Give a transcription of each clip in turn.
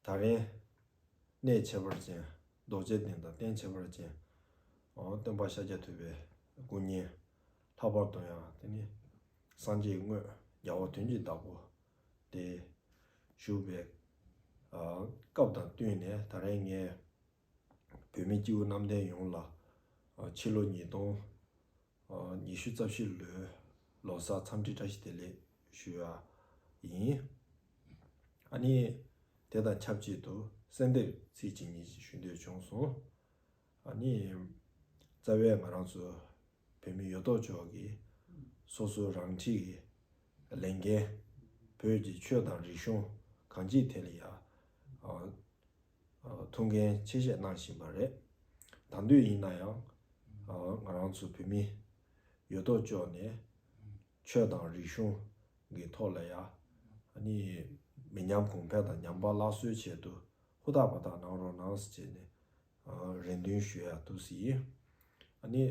ད་རན། གནས་ཁྱད་པར་ཅན། རྡོ་རྗེ་གདན་དང་རྟེན་ཁྱད་པར་ཅན། སྟོན་པ་ཤཱཀྱ་ཐུབ་པའི་སྐུ་བརྙན། ལྷག་པར་དུ་ཡང་དེ་ནི། སངས་རྒྱས་དངོས། རྒྱལ་བ་དོན་གྱི་བདག་པོ། སྟེ། བཞུགས་པའི། སྐབས་དང་བསྟུན་ནས་ད་རན་ངས། བོད་མི་སྤྱི་བོ་གནམ་བསྟན་ཡོངས་ལ། ཕྱི་ལོ་ཉིས་སྟོང། ཉི་ཤུ་རྩ་བཞི་ལོའི་ལོ་སར་འཚམས་འདྲི་བཀྲ་ཤིས་བདེ་ལེགས་ཞུ་བ་ཡིན། ཨ་ནི། དེ་དང་ཆབས་ཅིག་ཏུ་གསལ་འདེབས་ཚིག་གཅིག་གཉིས་ཞིག་ཞུ་འདོད་བྱུང་སོང། ཨ་ནི། རྩ་བའི་ང་རང་ཚོ་བོད་མི་ཡོད་དོ་ཅོག་གིས་སོ་སོ་རང་འཁྲིས་ཀྱི་ལས་འགན། བོད་ཀྱི་ཆོས་དང་རིག་གཞུང་གང་ཅིའི་ཐད་ལ་ཡང། ཐུགས་འགན་ཆེ་བཞེས་གནང་བཞིན་པ་རེད། དང་དུས་ཡིན་ན་ཡང། ང་རང་ཚོ་བོད་མི། ཡོད་དོ་ཅོག་ནས། ཆོས་དང་རིག་གཞུང། གི་ཐོག་ལ་ཡ། ནི། མི་ཉམས་གོང་འཕེལ་དང་ཉམས་པ་སླར་གསོའི་ཆེད་དུ། ཧུར་ཐག་པ་དག་གནང་རོགས་གནང། ཅེས་ནས། རེ་འདུན་ཞུ་ཡག་ཐུགས་བཞེས་ཡིན། ནི།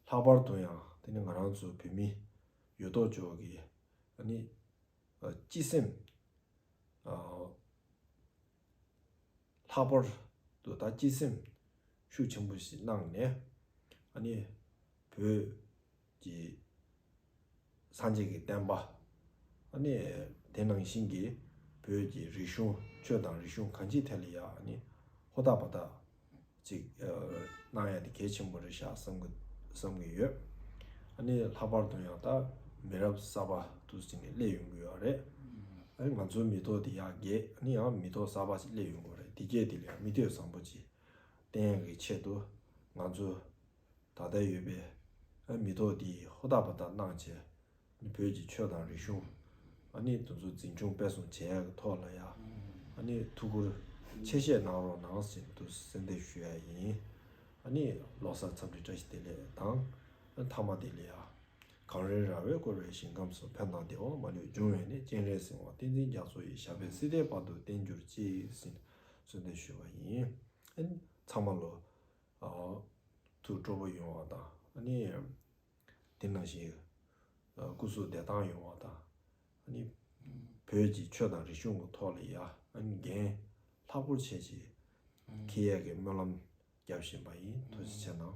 ལྷག་པར་དུ་ཡང། དེ་ནི་ང་རང་ཚོ་བོད་མི། ཡོད་དོ་ཅོག་གི། ནི། སྤྱི་སེམས། ལྷག་པར་དུ་ད་སྐྱིད་སེམས་ཤུགས་ཆེན་པོ་ཞིག་གནང་ནས་ཨ་ནི་བོད་ཀྱི་སངས་རྒྱས་ཀྱི་བསྟན་པ་ཨ་ནི་དེ་ནང་བཞིན་གྱི་བོད་ཀྱི་རིག་གཞུང་ཆོས་དང་རིག་གཞུང་གང་ཅིའི་ཐད་ལ་ཡང་ཨ་ནི་ཧོར་ཐག་པ་དག་ཅིག་གནང་ཡ་དེ་གལ་ཆེན་པོ་རེད་ཤག་བསམ་གི་ཡོད། ཨ་ནི་ལྷག་པར་དུ་ཡང་ད་མི་རབས་གསར་པ་དུ་ཅིག་ནས་སླེབས་ཡོང་གི་ཡོད་རེད། ཨ་ནི་ང་ཚོའི་མི་ཐོག་དེ་ཡག་གེ་ཨ་ནི་ཡང་མི་ཐོག་གསར་པ་ཅིག་སླེབས་ཡོང་གི་རེད་དེ་གས་དེ་ལས་མི་ཐོས་བཟང་པོ་ཅིག་བསྟན་ཡ་གི་ཆེད་དུ་ང་ཚོ་ད་ལྟ་ཡོད་པའི་ཨ་མི་ཐོག་དེ་ཧུར་ཐག་པ་ད་གནང་བྱས། བོད་ཀྱི་ཆོས་དང་རིག་གཞུང། ཨ་ནི་དུ་ཚོད་འཛིན་སྐྱོང་སྤེལ་གསུམ་བྱེད་ཡག་གི་ཐོག་ལ་ཡ། ཨ་ནི་ཐུགས་ཁུར། ཆེ་བཞེས་གནང་རོགས་གནང་ཟེར་དུ་གསལ་འདེབས་ཞུ་ཡ་ཡིན། ཨ་ནི་ལོ་སར་འཚམས་འདྲི་བཀྲ་ཤིས་བདེ་ལེགས་དང། ཨ་མཐའ་མ་བདེ་ལེགས་ཡ། གངས་རིའི་ར་བས་བསྐོར་བའི་ཞིང་ཁམས་སུ་ཕན་དང་བདེ་བ་མ་ལུས་འབྱུང་བའི་ནི་སྤྱན་རས་གཟིགས་དབང་བསྟན་འཛིན་རྒྱ་མཚོ་ཡི་ཞབས་པད་སྲིད་མཐའི་བར་དུ་བརྟན་གྱུར་ཅིག་ཟིན་གསོལ་འདེབས་ཞུ་བ་ཡིན། ཨ་ནི་ཚང་མ་ལོ། ཨ། ཐུགས་སྤྲོ་པོ་ཡོང་བ་དང་ཨ་ནི། དེ་ནང་བཞིན་ཡོད། སྐུ་གཟུགས་བདེ་ཐང་ཡོང་བ་དང། བོད་ཀྱི་ཆོས་དང་རིག་གཞུང་གི་ཐོག་ལ་ཡ་འགན་ལྷག་པོར་བྱེད་ཅེས་ཁེ་ཡེ་གིས་སྨོན་ལམ་བརྒྱབ་བཞིན་པ་ཡིན་དོགས་གཞི་ཆེ་གནང།